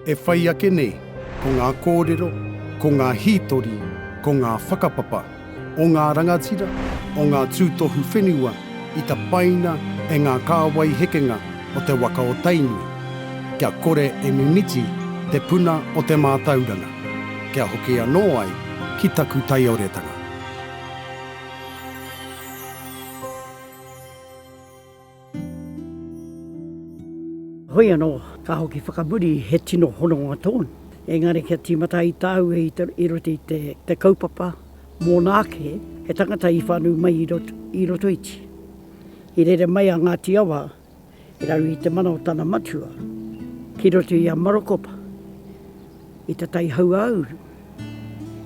E whai ake nei, ko ngā kōrero, ko ngā hītori, ko ngā whakapapa o ngā rangatira, o ngā tūtohu whenua i tapaina e ngā kāwai hekenga o te waka o Tainui, kia kore e mimiti te puna o te mātauranga, kia hoki anō ai ki taku taioretanga. Hoi anō, ka hoki whakamuri he tino hononga tōna. Engari kia tīmata ai tāu e i roto i te kaupapa mōna ake he tangata i whānau mai i roto iti. I rere mai a Ngāti Awa i raro i te mana o tana matua ki roto i a Marokopa i te tai hau-ā-uru.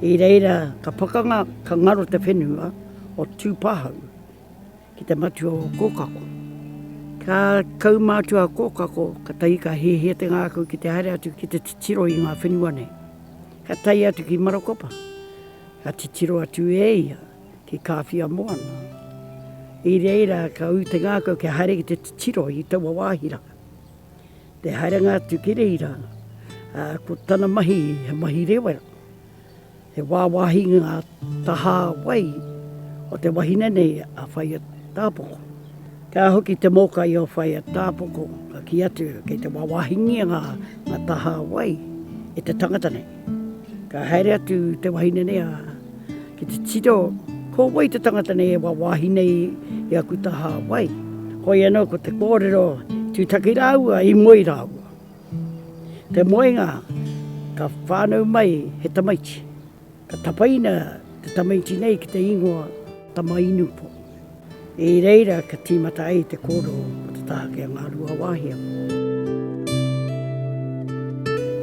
I reira ka pakanga ka ngaro te whenua o Tūpāhau. Ki te matua o Kōkako. Ka kaumātua a Kōkako, katahi ka hiahia te ngākau ki te haere atu ki te titiro i ngā whenua nei. Ka tae atu ki Marakopa, ka titiro atu e ia ki Kāwhia Moana. I reira ka ū te ngākau kia haere ki te titiro i taua wāhi rā. Te haerenga atu ki reira, ko tana mahi he mahi rewera. He wāwāhi ngā tahā wai o te wahine nei a Whaea Tāpoko. Ka hoki te mōkai o Whaea Tāpoko ka kī atu kei te wāwāhingia ngā tahā wai e te tangata nei. Ka haere atu te wahine nei a ki te tiro ko wai te tangata nei e wāwāhi nei i aku tahā wai. Hoi anō ko te kōrero tūtaki rāua i moe rāua. Te moenga, ka whānau mai he tamaiti. Ka tapaina te tamaiti nei ki te ingoa Tama-inu-po. I reira ka tīmata ai te kōrero o te tāke a Ngāruawāhia.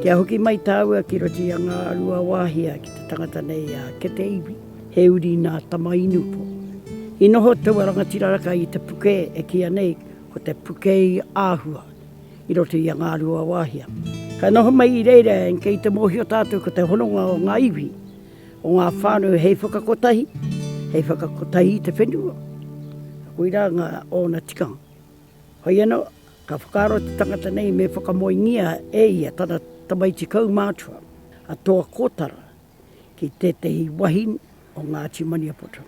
Kia hoki mai tāua ki roto i a Ngāruawāhia ki te tangata nei a Kete Iwi, he uri nā Tama-inu-po. I noho taua rangatira raka i te puke e kīa nei ko te Puke-i-āhua. i roto i a Ngāruawāhia. Ka noho mai i reira kei te mōhio tātou ko te hononga o ngā iwi, o ngā whānau hei whakakotahi, hei whakakotahi i te whenua. Koirā ngā ōna tikanga. Hoi anō, ka whakaaro te tangata nei me whakamoengia e ia tana tamaiti kaumātua, a Toa Kōtara. ki tētehi wahine o Ngāti Maniapoto.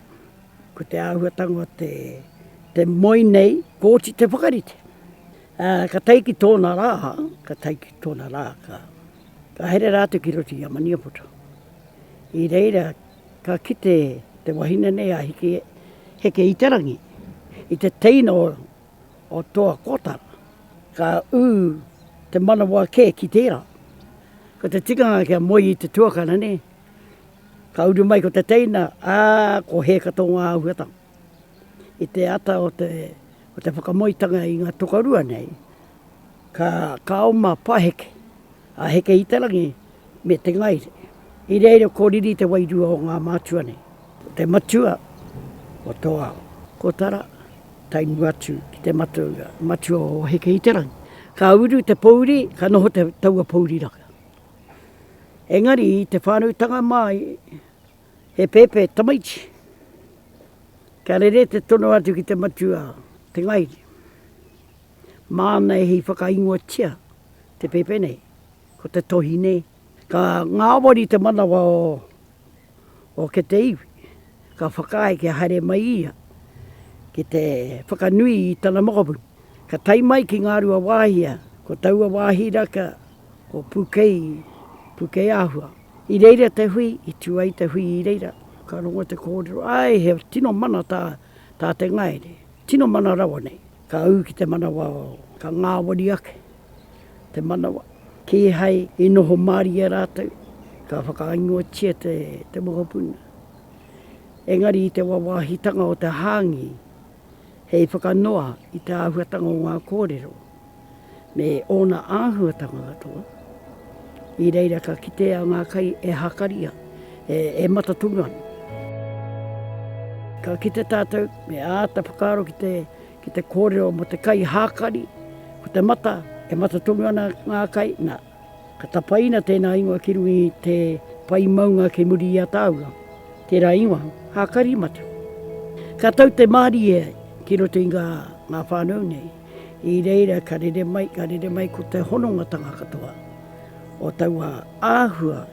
Ko te āhuatanga o te, te moe nei, kōti te whakarite. Ā, ka tae ki tōna rā, ka tae ki tōna rā, ka, ka here rātou ki roto i a Maniapoto. I reira, ka kite te wahine nei a Heke, Heke Itarangi, i te teina o o toa kotara, ka ū te manawa kē ki tērā. Ko te tikanga kia moe i te tuakana nē, ka uru mai ko te teina, ā, ko hēka tō ngā āhuatanga. I te ata o te, o te whakamoetanga i ngā tokorua nei, ka, ka oma paheke, A Heke Itarangi me Te Ngaire. I reira ko riri te wairua o ngā mātua nei, ko te matua o tō ao. Ko Tara, tae mua atu ki te matua, matua o Heke Itarangi. Ka uru te pōuri, ka noho te taua pōuri raka. Engari i te whānautanga māi, he pēpē tamaiti. Ka rere te tono atu ki te matua, Te Ngaire. Māna e hī whakaingoatia te pēpē nei, ko te tohi nei. Ka ngāwari te manawa o ke te iwi, ka whakaae kia haere mai ia ki te whakanui i tana mokopuna. Ka tae mai ki Ngārua Wāhia, ko taua wāhi raka ko Pūkei, Pūkei Āhua. I reira te hui, i tū ai te hui i reira, ka rongo te kōrero, āe he tino mana tā te ngaere, tino mana rawa nei. Ka ū ki te manawa o. Ka ngāwari ake te manawa. Kīhai i noho mārie rātou, ka whakaingoatia te mokopuna. Engari i te wāwāhitanga o te hāngī, hei whakanoa i te āhuatanga o ngā kōrero. me ōna āhuatanga katoa. I reira ka kitea ngā kai e hākaria, e matatūnga ana. Ka kite tātou, me āta whakaaro ki te, ki te kōrero mō te kai hākari, ko te mata, e matatūnga ana ngā kai, nā, Ka tapaina tēnā ingoa ki runga i te pae maunga kei muri i a Tāua, tērā ingoa, Hākarimata. Ka tau te mārie ki roto i ngā, ngā whānau nei, i reira ka rere mai, ka rere mai ko te honongatanga katoa o taua āhua.